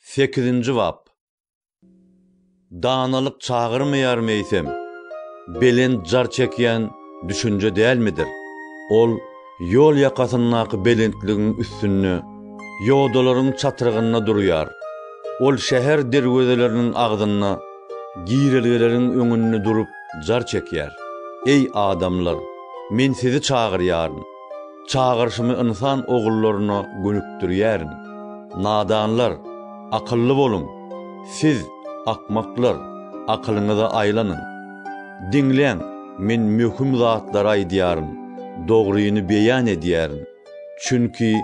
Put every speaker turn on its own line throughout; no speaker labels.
Sekizinji bap. Danalyk çagyrmaýar meýsem, belent jar çekýän düşünje dälmidir? Ol ýol ýakasyndaky belentligiň üstünde, ýodalaryň çatrygynda durýar. Ol şäher derwezeleriniň agzynda, girelgeleriň öňünde durup jar çekýär. Eý, adamlar, men sizi çagyrýaryn. Çagyryşymy ynsan ogullaryna gönükdirýärin. Nadanlar, akylly boluň! Siz, akmaklar, akylyňyza aýlanyň! Diňläň, men möhüm zatlary aýdýaryn, dogryny beýan edýärin. Çünki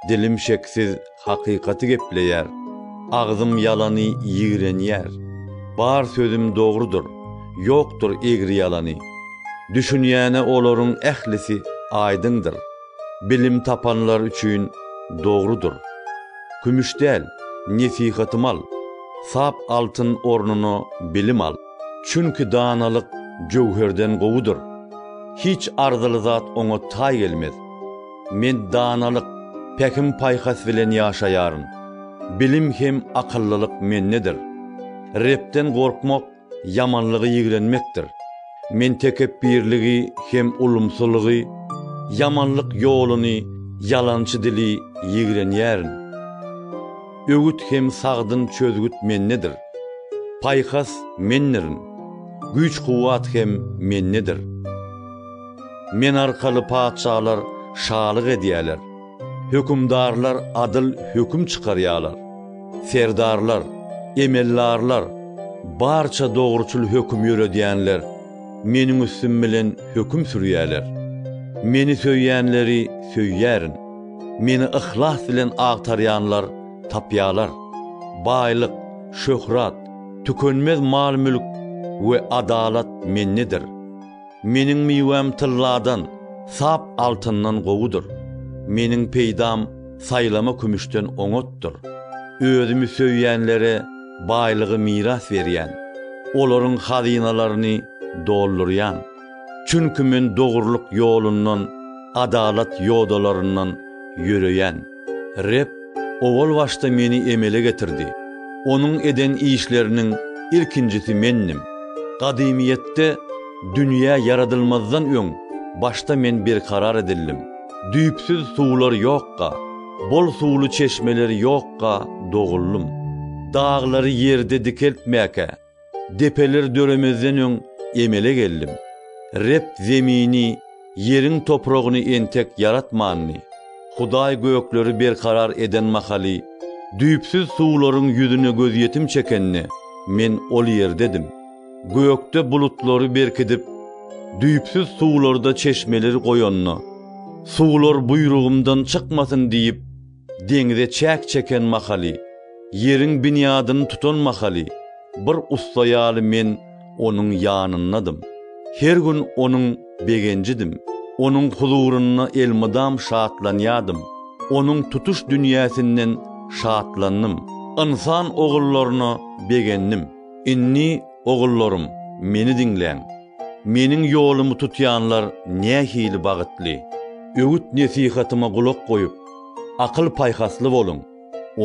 dilim şeksiz Hakykaty gepleýär. Agzym ýalany ýigrenýär. Bar sözüm dogrudyr. Ýokdur egri-ýalany. Düşünýäne olaryň ählisi aýdyňdyr. Bilim tapanlar üçin dogrudyr. Kümüş däl, nesihatym al. Sap altyn ornuna bilim al. Çünki danalyk jöwherden gowudyr. Hiç arzyly zat oňa taý gelmez. Men danalyk, pähim-paýhas bilen ýaşaýaryn. Bilim hem akyllylyk mendedir. Rebden gorkmak ýamanlygy ýigrenmekdir. Men tekepbirligi hem ulumsylygy, ýamanlyk ýoluny, ýalançy dili ýigrenýärin. Öwüt hem sagdyn çözgüt mendedir. Paýhas mendirin. Güýç-kuwwat hem mendedir. Men arkaly patyşalar şalyk edýärler, hökümdarlar adyl höküm çykarýarlar, serdarlar, emeldarlar, barça dogruçyl höküm ýöredýänler Meniň üstüm bilen höküm sürýärler. Meni söýýänleri söýýärin. Meni yhlas bilen agtarýanlar tapýarlar. Baýlyk, şöhrat, tükenmez mal-mülk we adalat Mendedir. Meniň miwäm tylladan, sap altyndan gowudyr. Meniň peýdam saýlama kümüşden oňatdyr. Özümi söýýänlere baýlygy miras berýän, olaryň hazynalaryny doldurýan. Çünki men dogrulyk ýolundan, adalat ýodalaryndan ýöreýän. Reb owal başda meni emele getirdi. Onuň eden işleriniň ilkinjisi mendim. Gadymyýetde, dünýä ýaradylmazdan öň, başda men berkarar edildim. Düýpsüz suwlar ýokka, bol suwly çeşmeler ýokka doguldym. Daglary ýerde dikeltmäkä. Depeler döremezden öň emele geldim. Reb zemini, ýeriň topragyny entek ýaratmandy. Hudaý gökleri berkarar eden mahaly, düýpsüz suwlaryň ýüzüne gözýetim çekende, men ol ýerdedim. Gökde bulutlary berkidip, düýpsüz suwlarda çeşmeleri goýanda, Suwlar buýrugymdan çykmasyn diýip, Deňze çäk çeken mahaly, ýeriň binýadyny tutan mahaly, bir ussa ýaly men Onuň ýanyndadym. Her gün Onuň begenjidim. Onuň huzurynda elmydam şatlanýardym. Onuň tutuş dünýäsinden şatlandym. Ynsan ogullaryna begendim. Indi, ogullarym, meni diňläň. Meniň ýolumy tutýanlar nähili bagtly! Öwüt-nesihatyma gulak goýup, akyl-paýhasly boluň,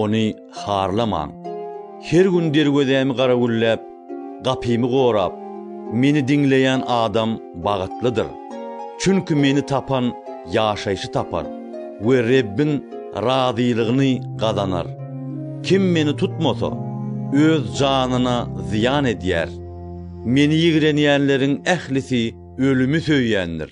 ony harlamaň. Her gün derwezämi garawulläp, gapymy gorap, meni diňleýän adam bagtlydyr. Çünki meni tapan ýaşaýşy tapar we Rebbiň razylygyny gazanar. Kim meni tutmasa, öz janyna zyýan edýär. Meni ýigrenýänleriň ählisi ölümi söýýändir.